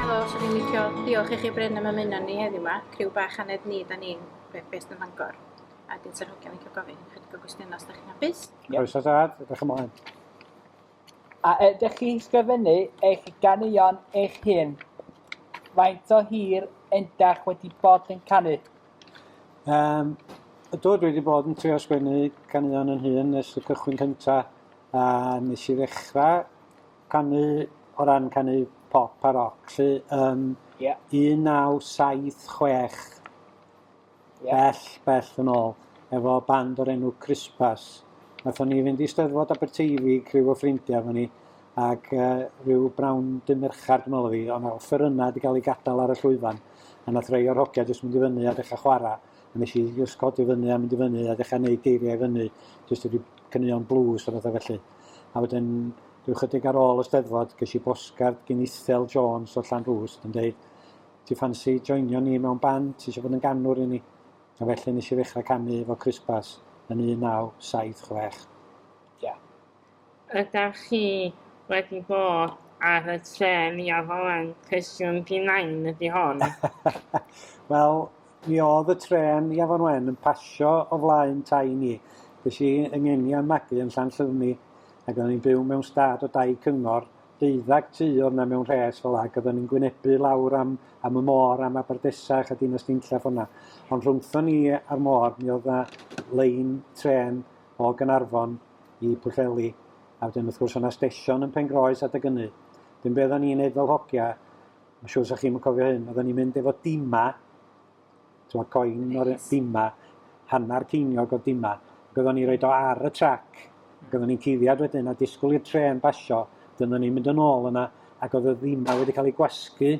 Helo, swn i'n licio diolch i chi Bryn am ymuno ni heddiw yma, criw bach anedd ni da ni'n beth beth yn Fangor. A dyn sy'n hogiau'n licio gofyn chydig o gwestiynau os da chi'n hapus. Croeso tad, edrych ymlaen. A ydych chi'n sgrifennu eich ganeuon eich hun? Faint o hir endach wedi bod yn canu? Um, do, dwi wedi bod yn trio sgwennu caneuon yn hun nes y cychwyn cynta, a nes i ddechrau canu o ran canu pop a rock, lle um, yeah. 1976, yeah. bell, bell yn ôl, efo band o'r enw Crispas. Nathon ni fynd i Steddfod Aberteifi, criw o ffrindiau fo ni, ac rhyw brown du merchar dwi'n meddwl oedd hi, ond nawr ffyrynau wedi cael eu gadael ar y llwyfan, a nath rei o'r hogia jyst mynd i fyny a dechrau chwarae, a nes i jyst codi fyny a mynd i fyny a dechrau neud geiriau i fyny, jyst wedi cyneuon blues a bethau felly. A wedyn, rhyw chydig ar ôl y steddfod, ges i bosgard gyn Ithel Jones o Llanrwst yn dweud, ti ffansi joinio ni mewn band, ti eisiau bod yn ganwr i ni? A felly nes i ddechrau canu efo Chris Bass yn 1976. Ie. Yeah. Ydach chi wedi bod ar y trên i afalan cwestiwn P nain ydi hon? Wel mi oedd y trên i afon wen yn pasio o flaen tai ni. Ges i yng ngenian magu yn Llanllyfni ac oedden ni'n byw mewn stad o dai cyngor, deuddag ty oedd na mewn rhes fel ac oedden ni'n gwynebu lawr am am y môr am Aberdesach a Dinas Dinlla ffordd na. Ond rhwngthon ni a'r môr mi oedd na lein trên o Gaernarfon i Pwllheli, a wedyn wrth gwrs o' 'na stesion yn Pengroes adeg ynny. Wedyn be' oddan ni'n neud fel hogia, ma' siŵr 'sa chi'm yn cofio hyn, oddan ni'n mynd efo dima, t'mod coin o'r yy dima, hannar ceiniog o dima, ac oddan ni roid o ar y trac, ac oddan ni'n cuddiad wedyn a disgwl i'r trên basio, wedyn oddan ni'n mynd yn ôl yna, ac o'dd y ddima wedi ca'l 'u gwasgu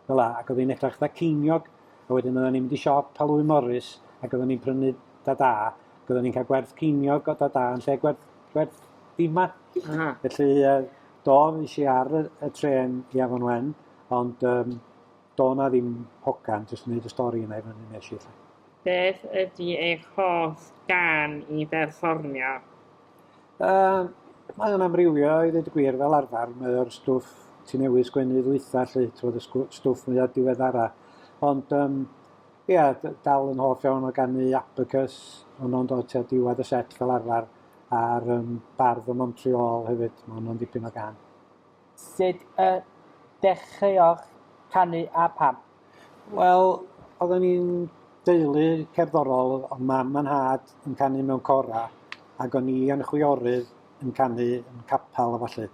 fel 'a, ac o'dd 'i'n edrach 'tha ceiniog, a wedyn oddan ni'n mynd i siop Halfwyn Morris ac oddan ni'n prynu da-da, ac oddan ni'n ca'l gwerth ceiniog o da-da yn lle gwerth gwerth dima. Aha. Felly yy do, es i ar y y trên i Afon Wen, ond yym do' 'na ddim hogan, jyst yn neud y stori yna i fyny nesh i 'lly. Beth ydi eich hoff gân i berfformio? Yym, mae o'n amrywio i ddweud y gwir fel arfer, mae o'r stwff ti newydd sgwennu ddwytha lly, t'mod y sgw- stwff mwya diweddara. Ond yym ia d- dal yn hoff iawn o ganu Abacus, honno'n dod tua diwedd y set fel arfer, a'r yym Bardd o Montreal hefyd, ma' honno'n dipyn o gân. Sut y dechreuoch canu a pham? Wel, oedden ni'n deulu cerddorol, oedd mam a nhad yn canu mewn cora, ac o'n i a'n chwiorydd yn canu yn capel a falle.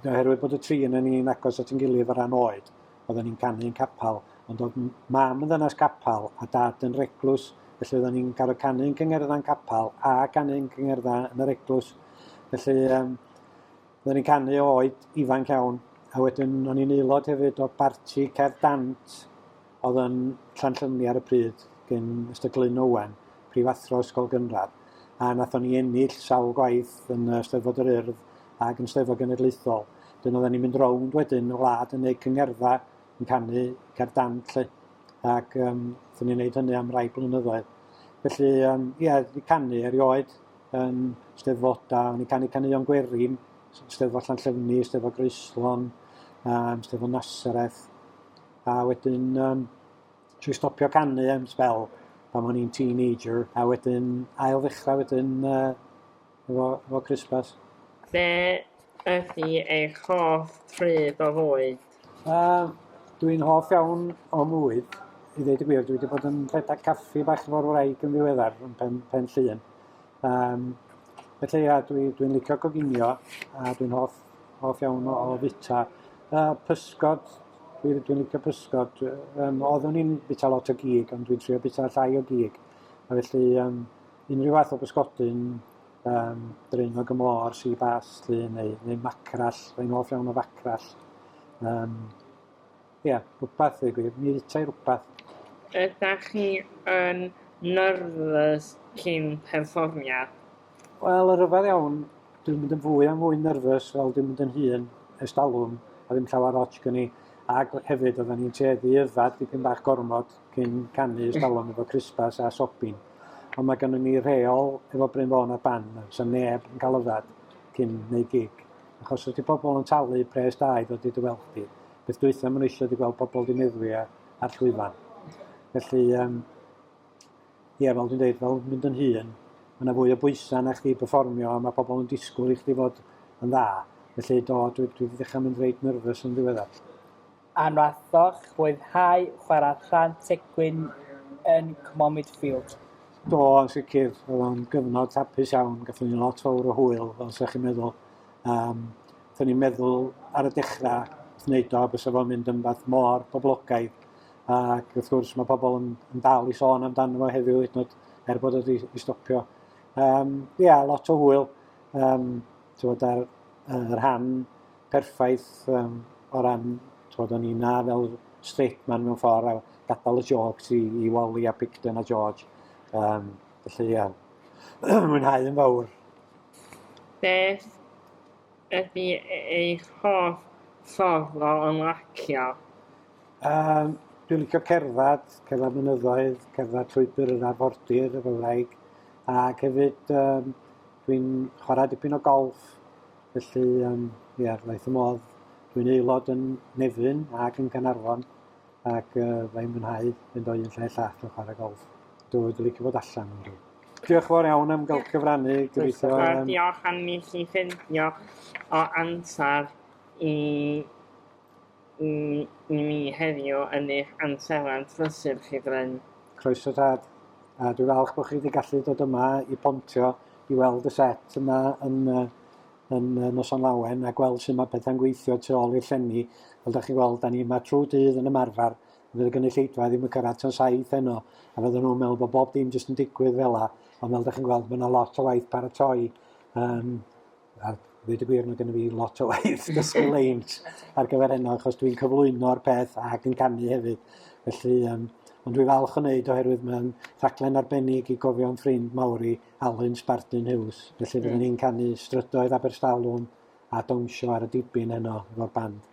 Oherwydd bod y tri yn yn ni'n agos at yn gilydd o ran oed, oedden ni'n canu yn capel, ond oedd mam yn ddynas capel a dad yn reglws, felly oedden ni'n cael y canu yn cyngerddau'n capel a canu yn cyngerddau yn yr eglwys. Felly, um, Roeddwn i'n canu o oed ifanc iawn, a wedyn o'n i'n aelod hefyd o barti cerdd dant oedd yn Llanllymni ar y pryd, gyn Mister Glyn Owen, prifathro ysgol gynradd, a nathon ni ennill sawl gwaith yn y Steddfod yr Urdd ac yn Steddfod Genedlaethol. Wedyn oedden ni'n mynd rownd wedyn y wlad yn neud cyngerdda yn canu cerdd dant 'lly, ac yym 'thwn ni'n neud hynny am rai blynyddoedd. Felly yym ie, 'di canu erioed. yn steddfodau, o'n i'n canu caneuon gwerin, steddfod Llanllefni, steddfod Groeslon, um, steddfod Nasareth, a wedyn um, trwy stopio canu am spel pan o'n i'n teenager, a wedyn ail ddechrau wedyn uh, efo, efo Christmas. Be ydy eich hoff pryd o fwyd? Yy dwi'n hoff iawn o fwyd, i ddeud y gwir. Dwi 'di bod yn rhedeg caffi bach efo'r wraig yn ddiweddar yn Pen Pen Llŷn. Yym felly ia dwi dwi'n licio coginio a dwi'n hoff hoff iawn o o fita. Yy pysgod dwi dwi'n licio pysgod dwi yym oeddwn i'n bita lot o gig ond dwi'n trio bita llai o gig a felly yym unrhyw fath o bysgodyn um, Draenog y Môr, Sea Bass, lli, neu, neu macrall, rhain hoff iawn o facrall. Um, Ie, yeah, rhywbeth ei gwir, mi rita i rhywbeth. Ydych chi yn nerfus cyn perfformiad? Wel, yr yfad iawn, dwi'n mynd yn fwy a fwy nerfus fel dwi'n mynd yn hun ers talwm, a ddim llawer ots gen i. Ac hefyd, oedden ni'n tueddu i yfad dipyn bach gormod, cyn canu ers talwm efo Christmas a Sobin. Ond mae gennym ni rheol efo Bryn Fôn a Ban, sy'n neb yn cael yfad cyn neu gig. Achos ydy pobl yn talu pres da i ddod i dy weld di. Beth dwytha maen nhw eisiau di gweld pobl di meddwi a, a'r llwyfan. Felly, um, ie, fel dwi'n dweud, fel mynd yn hun, mae yna fwy o bwysau na chdi performio a mae pobl yn disgwyl i chdi fod yn dda. Felly, do, dwi, dwi wedi dechrau mynd reit nerfus yn ddiweddar. A wnaethoch fwynhau chwarae rhan Tegwyn yn Cwmormid Field? Do, yn sicr. Oedd o'n gyfnod hapus iawn. Gathon ni lot fawr o hwyl, fel sa chi'n meddwl. Um, Gathon ni'n meddwl ar y dechrau wrth wneud o, bysa fo'n mynd yn fath mor boblogaidd. Ac wrth gwrs, mae pobl yn, yn dal i sôn amdano fo heddiw, hyd nod, er bod wedi i stopio. Um, ia, lot o hwyl. Um, Tywed, ar uh, rhan perffaith um, o ran, twod, o'n i na fel straight man mewn ffordd a gadael y jokes i, i Wally a Picton a George. Um, felly, ia, mwynhau yn fawr. Beth ydy eich hoff ffordd o ymlacio? Um, dwi'n licio cerdded, cerdded mynyddoedd, cerdded llwybr yr arfordir, y Gymraeg, ac hefyd um, dwi'n chwarae dipyn o golf Felly yym ia wnaeth fy modd, dwi'n aelod yn Nefryn ac yn Gaernarfon ac yy fy i'n mwynhau mynd o un lle i'r llall yn chwarae golff. Dwi wedi licio bod allan yn rhyw. Diolch yn fawr iawn am gael cyfrannu, gobeithio... Yym... Diolch am i chi ffindio o amser i i mi heddiw yn eich amserlen prysur chi Bryn. Croeso tad. A dwi falch bod chi wedi gallu dod yma i Pontio i weld y set yma yn, yn Noson Lawen a gweld sut mae pethau'n gweithio tu ôl i'r llenni. Fel da chi'n gweld, da ni yma trwy dydd yn ymarfer. Fydd y gynulleidfa ddim yn cyrraedd tan saith heno a fydden nhw'n meddwl bod bob dim jyst yn digwydd fel la. Ond fel da chi'n gweld, mae yna lot o waith paratoi um, a dweud y gwir, mae gennym ni lot o waith dysgu leint ar gyfer heno, achos dwi'n cyflwyno'r peth ac yn canu hefyd. Felly, um, ond dwi'n falch o wneud oherwydd mae'n rhaglen arbennig i gofio am ffrind mawr i Alun Spartan Hughes. Felly, byddwn ni'n canu strydoedd Aberstawlwn a dawnsio ar y dibyn heno efo'r band.